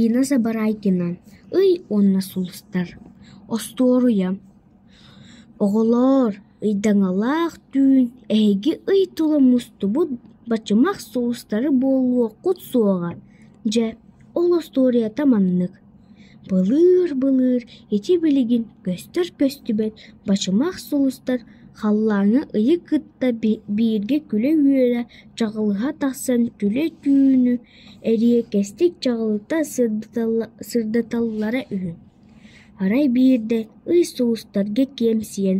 Инна Забарайкина ый уонна сулустар остуоруйа оҕолоор ыйдаҥалаах түүн эһиги ый тула мустубут бачымах сулустары буолуоххут суоҕа дьэ ол остуоруйата маннык: былыыр-былыыр ити билигин көстөр-көстүбэт бачымах сулустар халлааҥҥа ыйы кытта бииргэ күлэ-үөлэ чаҕылыһа тахсан күлэ түүнү Эриэкэстик чаҕылыта сырдаталлара үһү, арай биирдэ ый суустарга киэмсийэн: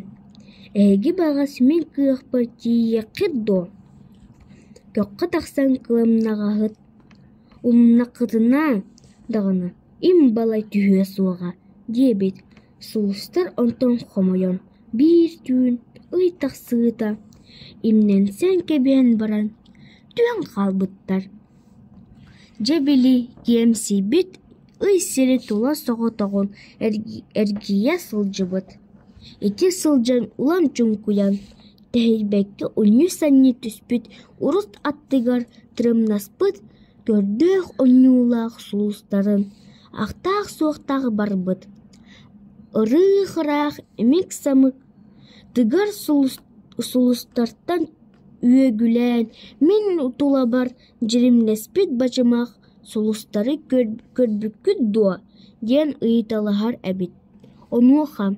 «Эһиги баҕас мин кыахпар тиийиэххит дуо? Көххө тахсан кылымнаҕаһыт умнаххытына даҕаны, им балай түһүө суоҕа» диэбит Суостар онтон хомойон, биир түүн ый тахсыыта имнэнсэн кэбиһэн баран, түһэн хаалбыттар. Дьэ били киэмсийбит ый сири тула соҕотоҕун эргийэ сылдьыбыт. Ити сылдьан улам чуҥкуйан, тэһийбэккэ унньуу-санньыы түспүт урут аттыгар тырымнаспыт көрдөөх онньуулаах сулустарын ахтаах-суохтаах барбыт, ырыых-ыраах, имик-самык тыгар сулустартан үөгүлээн мин тулабар дьиримнэспит бачымах сулустары көрбүккүт дуо? диэн ыйыталаһар эбит. Онуоха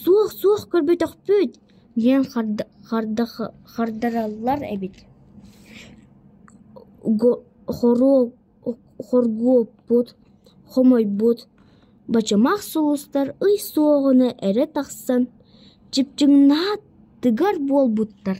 «Суох-суох көрбөтөхпүт» диэн хардараллар эбит. Хоруоп хоргуоппут, хомойбут, бачамаах сулустар ый суоҕуна эрэ тахсан чыпчыҥнаһа тыгар буолбуттар